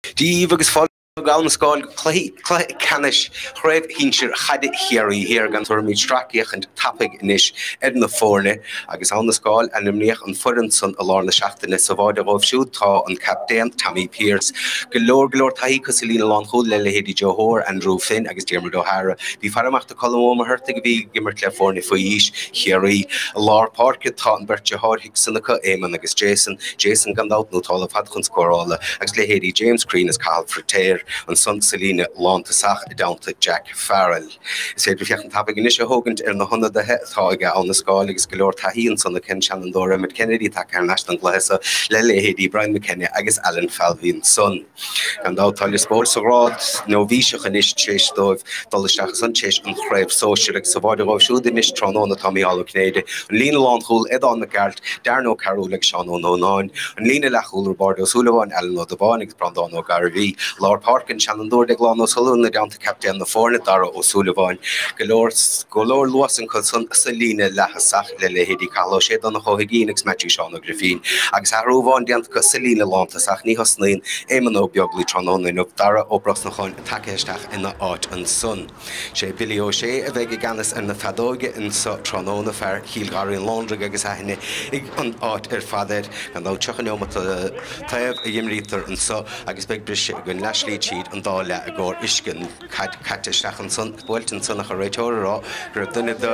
Díobh agus fáilte go hAbha na Scáil go cluichí cluiche ceannais chraobh shinsir chaide Chiarraí Thiar gan dabht tabharfaimid sracfhéachaint tapaidh anois ar na foirne agus Abha na Scáil ainmníodh an foireann san i lár na seachtaine sa bháide dhóibh siúd tá an captaen Tommy Pearce go leor go leor taithí acu sa líne lánchúil le leithéidí Joe Hoare Andrew Finn agus Diarmuid O'Hara bí ag faire amach do Cholm Ó Muircheartaigh, a bhí ag imirt le foirne faoi aois Chiarraí, i lár páirce. Tá an bheirt deartháir Hickson acu, Éamonn agus Jason. Jason, gan dabht, nótálta ar fad chun scórála agus leithéidí James Crean is Cathal Firtéar ansan sa líne lántosach i dteannta Jack Farrell. Is féidir féachaint tapaidh anois a thógaint ar na hionadaithe atá aige Abha na Scáil agus go leor taithí ansan acu an seanfhondúir Emmet Kennedy tagtha thar n-ais don gcluiche so le leithéidí Brian McKenna agus Alan Falvey ansan. Gan dabht tá Lios Póil sa ghrád nóibhíseach anois tar éis dóibh dul isteach san tar éis an chraobh sóisir agus sa bháide dhóibh siúd anois tráthnóna tá Micheál Ó Cinnéide, an líne lánchúil, Aodán Mac Gearailt, Darren Ó Cearúil agus Seán Ó Nónáin, an líne leathchúil, Roibeárd Ó Súilleabháin, Alan Ó Dubháin agus Breandán Ó Gairbhí. I lár páirce an seanfhondúir Deaglán Ó Súilleabháin i dteannta captaen na foirne, Dara Ó Súilleabháin. Go leor luas acu san sa líne leaththosach le leithéidí Cathal Ó Sé, Donncha Ó hUiginn agus Maitiú Seán Ó Grífín, agus athrú amháin déanta acu sa líne lántosach ní thosnaíonn Éamon Ó Beaglaoi tráthnóna inniu Darragh Ó Brosnacháin tagtha isteach ina áit ansan. Sé Billy Ó Sé a bheidh i gceannas ar na feadóige anso tráthnóna, fear Chill Gharraí an Lóndraigh agus aithne ag an áit ar fad air. Gan dabht tríocha neomat an taobh a dh'imrítear anso agus beidh briseadh againn leathshlí tríd an dá leath i gcomhair uisce an chaid caite isteach ansan, buailte ansan ach an réiteoir ag rá go raibh duine de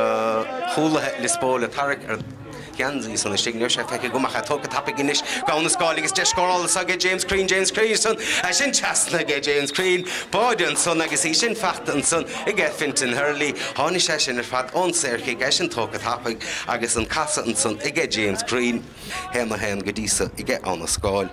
chúlaithe Lios Póil ag tarrac ar a. gheansaí san istigh. Níl sé feicthe agam ach é tógtha tapaidh anois. ag Abha na Scáil agus deis scórála anso aige James Crean, James Crean ansan, é sin trasna aige James Crean. Báide ansan agus í sin fachta ansan aige Fintan Herlihy. Tháinigh sé sin ar fad ón saorchic, é sin tógtha tapaidh agus an casadh ansan aige James Crean. Haon a haon go dtí so aige Abha na Scáil.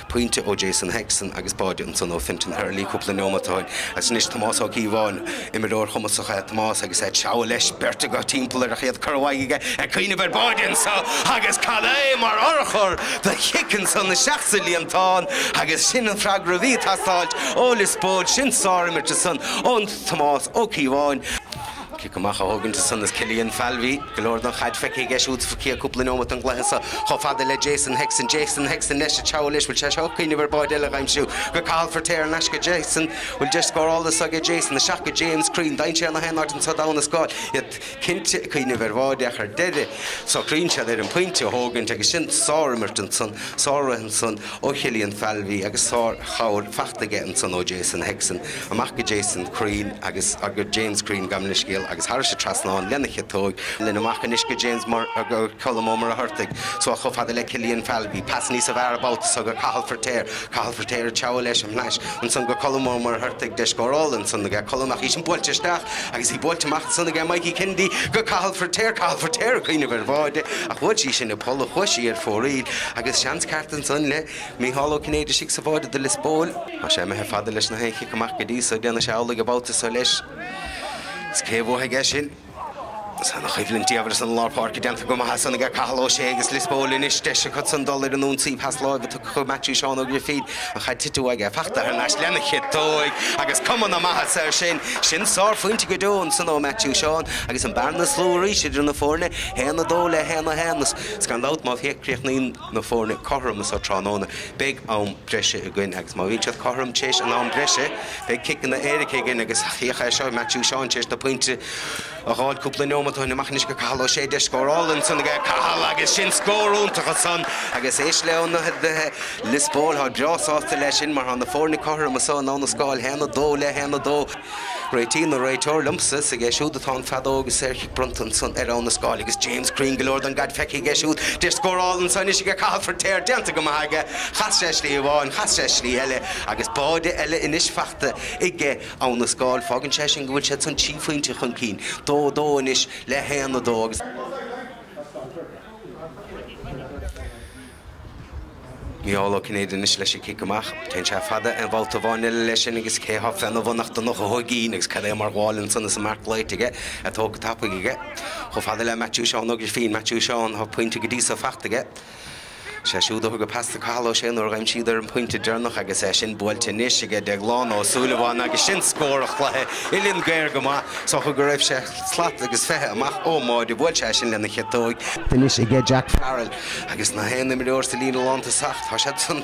pointe ó Jason Hickson agus báide ansan ó Fintan Herlihy cúpla neomat ó shin. Agus anois Tomás Ó Cíobháin. Imreoir chumasach é Tomás agus é ag treabhadh leis, beirt acu timpeall air ach iad curtha uaidh aige, ag cuimhneamh ar báide anso agus cad é mar urchar do chic ansan isteach sa líontán agus sin an freagra a bhí ag teastáilt ó Lios Póil. Sin sár-imirt ansan ó Thomás Ó Cíobháin. Cic amach a thógaint ansan is Killian Falvey. Go leor den chaid feicthe aige siúd sa chéad chúpla neomat den gcluiche seo. Chomh fada le Jason Hickson. Jason Hickson leis sa tsiúl anois. Bhfuil sé seo ag cuimhneamh ar báide eile a dh'aimsiú? Go Cathal Firtéar ar ais go Jason. Bhfuil deis scórála anso aige Jason? Isteach go James Crean. Dainséar i ngach aon áit anso d'Abha na Scáil iad cinnte ag cuimhneamh ar bháide ach ar deireadh socraíonn siad ar an pointe a thógaint agus sin sár imirt ansan. Sár rith ansan. ó Chillian Falvey agus sár chabhair fachta aige ansan ó Jason Hickson amach go Jason Crean agus go James Crean gabhaim leithscéal agus thairis a trasnán lena chiotóig linn amach anois go James nó go Colm Ó Muircheartaigh suas chomh fada le Cillian Falvey pas níosa bhfearr an babhta so go Cathal Firtéar Cathal Firtéar ag treabhadh leis thar n-ais ansan go Colm Ó Muircheartaigh deis scórála ansan aige Colm ach í sin buailte isteach agus í buailte amach ansan aige Mikey Kennedy go Cathal Firtéar Cathal Firtéar ag cuimhneamh ar bháide ach bhuail sí sin an polla chuaigh sí ar fóraoil Agus seans ceart ansan le Micheál Ó Cinnéide istigh sa bháide do Lios Póil. Tá sé imithe fada leis na haon chic amach go dtí so déanann sé amhlaidh an babhta so leis. Is cé a bhuafaidh í sin? Tá na coimhlintí aeir san lár páirce déanta go maith ansan aige Cathal Ó Sé agus Lios Póil anois. Deis acu san dul ar an ionsaí. Pas láimhe tugtha chuig Maitiú Seán Ó Grifín ach cha dtitfeadh aige. Fachta thar n-ais lena chiotóig agus cuma na maitheasa air sin. Sin sárphointe go deo ansan ó Maitiú Seán agus an bearna is lú arís idir na foirne, 1-2 le 1-1. Is gan dabht, má chríochnaíonn na foirne cothrom anso tráthnóna, beidh am breise againn agus má bhíonn siad cothrom téis an am breise, beidh ciceanna éirice againn agus thiocfadh é seo, Matthew Sean téis na pointe a ghabháil cúpla neomat ó shin. Amach anois go Cathal Ó Sé deis scórála ansan aige, Cathal agus sin scór iontach ansan agus éist leo ó Lios Póil, thá breá sásta le sin mar thá na foirne cothrom anso in Abhainn an Scáil haon a dó le haon a dó. Réitíonn an réiteoir liomsa, 's aige siúd atá an feadóg is saorchic bronnta ansan ar Abhainn an Scáil agus James Crean go leor don gcaid feicthe aige siúd, deis scórála anso anois aige Cathal Firtéar déanta go maith aige, chas sé slí amháin, chas sé slí eile agus báide eile anois fachta aige Abhainn an Scáil, fágann sé sin go bhfuil siad san trí phointe chun cinn, dó a dó anois le haon a dó agus. Micheál Ó Cinnéide anois leis an cic amach. Téann sé fada aon bhabhta amháin eile leis sin agus cé athá feadh na bhfanacht ina chothaigín agus cad é mar ghabháil ansan is an marc glaoite aige é tógtha tapaidh aige. Chomh fada le Maitiú Seán Ó Grifín, Maitiú Seán, thá pointe go dtí so faighte aige. Sé siúd a thug an pas do Cathal Ó Sé nuair a dhein siad air an pointe deireanach agus é sin buailte anois aige Deaglán Ó Súilleabháin agus sin scór an chluiche uillinn géar go maith is dócha go raibh sé slat agus fiche amach ón mbáide bhuail sé é sin lena chiotóig anois aige Jack Farrell. Agus na haon imreoir sa líne lántosach, tá siad san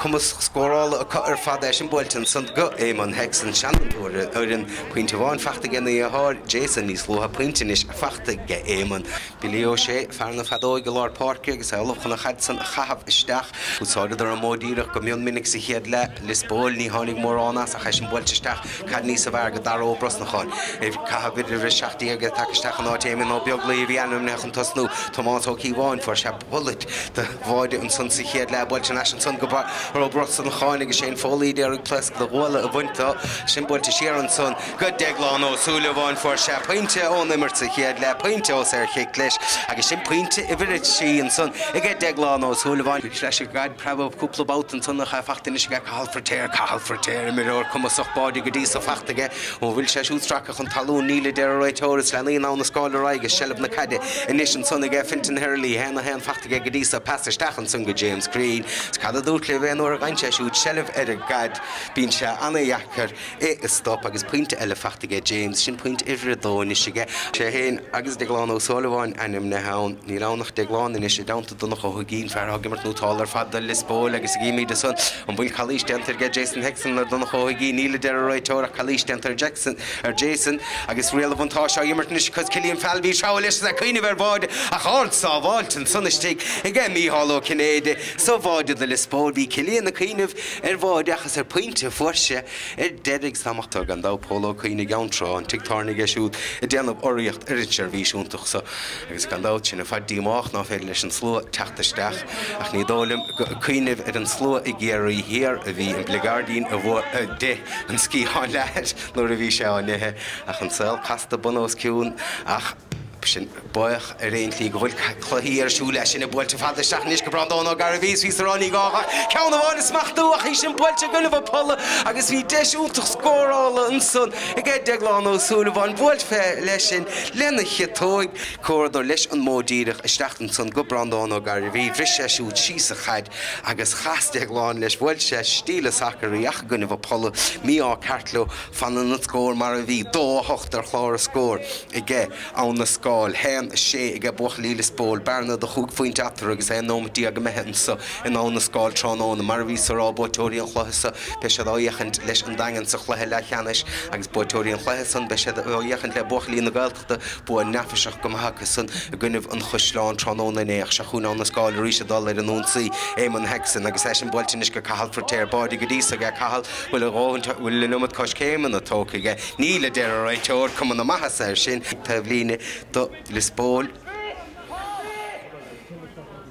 cumas scórála acu ar fad í sin buailte ansan go Eamonn Hickson seanfhondúir ar an bhfoireann pointe amháin fachta aigena dheartháir Jason níos luaithe pointe anois fachta aige Eamonn Billy Ó Sé fear na feadóige i lár páirce agus é ullamh chun an chaid san a chaitheamh isteach. Úsáideadar an modh díreach go mion minic sa chéad leath. Lios Póil ní tháinig mórán as ach í sin buailte isteach caid níosa bhfearr go Dara Ó Brosnacháin. Ag caitheamh uimhir a seacht déag é tagtha isteach in áit Éamonn Ó Beaglaoich a bhí ainmnithe chun tosnú. Tomás Ó Cíobháin fuair sé bullet de bháide ansan sa chéad leath buailte thar n-ais ansan go Dara Ó Brosnacháin agus Séan Foley a d'iarraidh pléasc do ghuala a bhaint do. Í sin buailte siar ansan. Go Deaglán Ó Súilleabháin fuair sé pointe ón imirt sa chéad leath, pointe ó saorchic leis agus sin pointe uimhir a trí ansan aige Deaglán Ó Súilleabháin. Bhí leis an gcaid preabadh cúpla babhta ansan ach é faighte anois aige Cathal Firtéar, Cathal Firtéar, imreoir cumasach báide go dtí so faighte aige ó an bhfuil sé siúd stractha chun talún níl a deir an réiteoir is leanann Abhainn an Scáil ar aghaidh i seilbh na caide anois ansan aige Fintan Hurley, haon a haon faighte aige go dtí so, pas isteach ansan go James Greene. Cad a dúirt libh aon uair a fhaigheann sé siúd seilbh ar an gcaid bíonn sé ana-dheacair. é. Stop agus pointe eile faighte aige, James, sin pointe uimhir a dó anois aige. Sé fhéin agus Deaglán Ó Súilleabháin ainmnithe ann. Níl ann ach Deaglán anois, i dteannta Donncha Ó hUiginn, fear atá ag imirt nótálta ar fad do Liospóil agus chímid ansan. An bhfuil calaois déanta aige Jason Hickson ar Donncha Ó hUiginn? Níl, a deir an réiteoir, ach calaois déanta ar Jackson, ar Jason, agus riail an bhuntáiste á imirt anois acu. Cillian Falvey ag treabhadh leis is ag cuimhneamh ar bháide ach ardshábháilt ansan istigh aige, Micheál Ó Cinnéide, sa bháide do Liospóil. Bhí Cillian ag cuimhneamh. Ar bháide ach is ar phointe fuair sé ar deireadh ag slamachta gan dabht Pól Ó Cuinn i gCeann Trá, an tigh tábhairne aige siúd, ag déanamh urraíocht ar an seirbhís iontach so agus gan dabht sinn ar fad díomách ná féidir leis an slua teacht isteach ach ní dóigh liom gur ag cuimhneamh ar an slua i gCiarraí Thiar a bhí an bligeairdín a d'ith an sciathán leathair nuair a bhí sé á n-ithe ach an saol casta bun os cionn ach Sinn baoch ar aon tslí go bhfuil cluichí ar siúl leis sin í buailte fada isteach anois go Brandán Ó Gairbhí is bhíos á rá ní gá ach ceann amháin a smachtú ach í sin buailte i gcoinnibh an pholla agus bhí deis iontach scórála ansan aige Deaglán Ó Súilleabháin buailte fé leis sin lena chiotóig chuadar leis an modh díreach isteach ansan go Brandán Ó Gairbhí bhris sé siúd síos an chaid agus chas Deaglán leis bhuail sé stíle sacair í ach i gcoinnibh an pholla mí-ádh ceart leo Fanann an scór mar a bhí, dó a hocht ar chlár a scór aige Abhainn an Scáil, haon a sé aige buachaillí Liospóil, bearna de chúig phointe eatarthu agus aon nóimeat déag imithe anseo in Abhainn an Scáil tráthnóna. Mar a bhíos á rá, buaiteoirí an chluiche seo, beidh siad á fhéachaint leis an Daingean sa chluiche leathcheannais agus buaiteoirí an chluiche san, beidh siad á fhéachaint le buachaillí na Tá bua neafaiseach go maith acusan i gcoinnibh an Chaisleáin tráthnóna inné ach seo chugainn Abhainn an Scáil arís ag dul ar an ionsaí. Eamonn Hickson, agus í sin buailte anois go Cathal Firtéar, báide go dtí so aige, Cathal, bhfuil a dhóthain, bhfuil an iliomad coiscéimeanna tógtha aige? Níl, a deir an réiteoir, cuma na maitheasa air sin, taobhlíne do Lios Póil.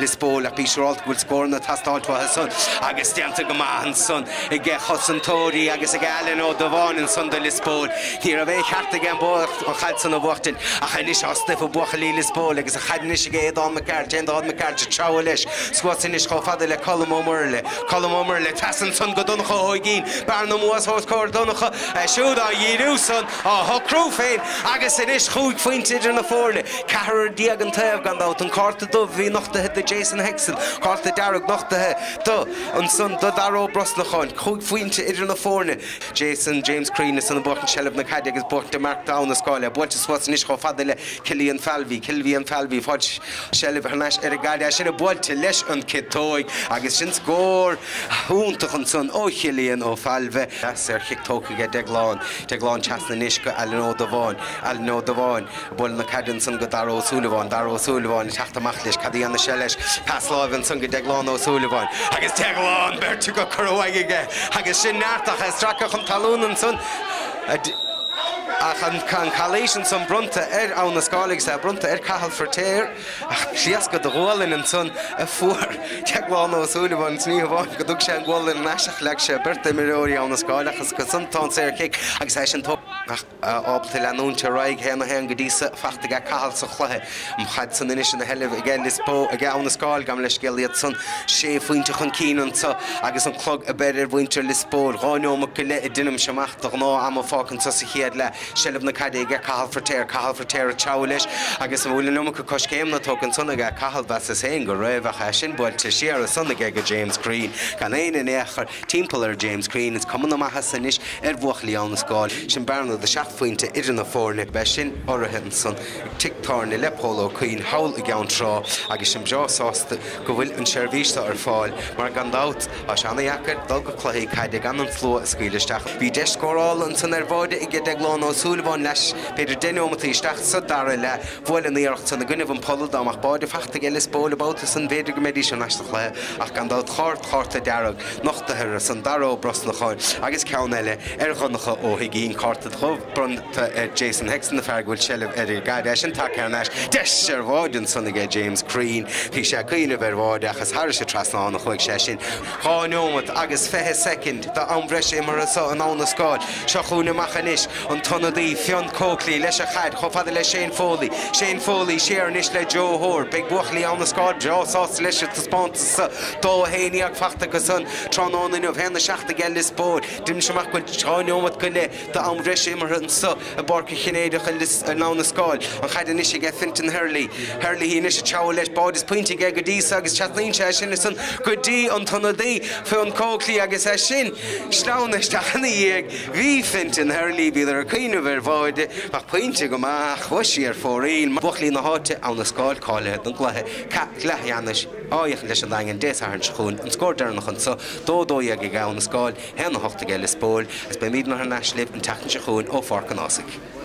Lios Póil ach bí siúrálte go bhfuil scóranna ag teastáilt uathu san agus déanta go maith ansan aige cosantóirí agus ag Alan Ó Dubháin ansan do Lios Póil. Ní raibh aon cheart aige an chaid san a bhuachtaint ach anois tá stuif i mbuachaillí Lios Póil agus an chaid anois ag Aodán Mac Gearailt, Aodán Mac Gearailt ag treabhadh leis suas anois chomh fada le Colm Ó Muirthile, Colm Ó Muirthile trasna ansan go Donncha Ó hUiginn, bearna amuigh os comhair Dhonncha, é siúd á dhíriú san, á shocrú féin agus anois chúig phointe idir na foirne. 14 an taobh, gan dabht. An cárta dubh a bhí nochtaithe do Jason Hickson, cárta dearg nochtaithe do, ansan, do Dara Ó Brosnacháin. Cúig phointe idir na foirne. Jason, James Crean, eisean ag buachaint seilbh na caide agus buaite, marc d'Abha na Scáil, é buailte suas anois chomh fada le Cillian Falvey, Cillian Falvey, ag fáilt seilbh thar n-ais ar an gcaide. É sin buailte leis an gciotóig agus sin scór iontach ansan ó Chillian Ó Failbhe. An saorchic tógtha aige Deaglán, Deaglán trasna anois go Alan Ó Dubháin, Alan Ó Dubháin, Bhuail na caide ansan go Dara Ó Súilleabháin. Dara Ó Súilleabháin ag teacht amach leis. Cad a dhéanfas sé leis? Pas láimhe ansan go Deaglán Ó Súilleabháin. Agus Deaglán beirt á gcur uaidh aige. Agus sin neart ach é stractha chun talún ansan. Ach an calaois ansan bronnta ar Abha na Scáil, sea, bronnta ar Cathal Firtéar. Ach pléascadh de ghualainn ansan a fuair Deaglán Ó Súilleabháin. Agus ní hamháin go dtug sé an gualainn ar ais ach leag sé beirt d'imreoirí Abha na Scáil ach as go san tá an saorchic agus é sin tógtha. ábalta leanúint ar aghaidh 1-1 go dtí so fachta aige Cathal sa chluiche an chaid san anois ina seilbh aige Lios Póil aige Abha na Scáil gabh mo leithscéal iad san sé phointe chun cinn anseo agus an clog ag breith ar mhuintir Lios Póil dhá neomat go leith a deinim-se amach de ghnáth-am fágtha anseo sa chéad leath seilbh na caide aige Cathal Firtéar Cathal Firtéar ag treabhadh leis agus an bhfuil an iomarca coiscéimeanna tógtha ansan aige Cathal mheasas féin go raibh ach é sin buailte siar ansan aige go James Crean gan éinne in aon chor Timpeall ar James Crean, is cuma na maitheasa anois ar bhuachaillí Abha na Scáil, sin bearna de seacht phointe idir na foirne. Beidh sin urraithe ansan ag tigh tábhairne le Pól Ó Cuinn thall i gCeann Trá agus sinn breá sásta go bhfuil an seirbhís seo ar fáil mar gan dabht tá sé ana-dheacair dul go cluichí caide gan an slua a scaoileadh isteach. Bhí deis scórála ansan ar bhád aige Deaglán Ó Súilleabháin leis b'fhéidir deich neomataí isteach sa dara leath. Bhuail an iarracht san i gcoinnibh an pholla, dá mbeadh bád fachta aige Lios Póil an babhta san b'fhéidir go mbeidís thar n-ais sa chluiche ach gan dabht cárta, cárta dearg, nochtaithe ansan do Dara Ó Brosnacháin agus ceann eile ar Dhonncha Ó hUiginn, cárta dubh, bronnta ar Jason Hickson, an fear go bhfuil seilbh ar an gcaid. Eisean tagtha thar n-ais. Deis ar bhád ansan aige James Crean. Bhí sé ag cuimhneamh ar bhád ach is thairis an trasnán a chuaigh sé sin. Dhá neomat agus fiche soicind d'am bhreise imeartha so in Abha na Scáil. Seo chugainn amach anois. An t-ionadaí, Fionn Coakley, leis a chaid, chomh fada le Shane Foley. Shane Foley, siar anois le Joe Hoare. Beidh buachaillí Abha na Scáil breá sásta leis an taispeántas 2-11 fachta acu san tráthnóna inniu 1-7 aige Lios Póil. Deinimse amach go bhfuil dhá neomat go leith d'am bhreise imeartha ansa i bPáirc an Chinnéideach i Lios, in Abha na Scáil. An chaid anois aige Fintan Herlihy. Herlihy anois ag treabhadh leis. Bád is poinnte aige go dtí so agus trasnaíonn sé é sin ansan go dtí an t-ionadaí, Fionn Coakley, agus as sin. sleamhna isteach ina dhiaidh. Bhí Fintan Herlihy, bhíodar ag cuimhneamh ar bháide, ach pointe go maith ach chuaigh sí ar fóraoil buachaillí na háite Abha na Scáil cáilithe don gcluiche ceath leathcheannais áfach leis an Daingean Dé Sathairn seo chugainn an scór deireanach anseo, 2-12 aige Abha na Scáil, 1-8 aige Lios Póil, agus beimidne thar n-ais libh an tseachtain seo chugainn ó Pháirc an Ásaigh.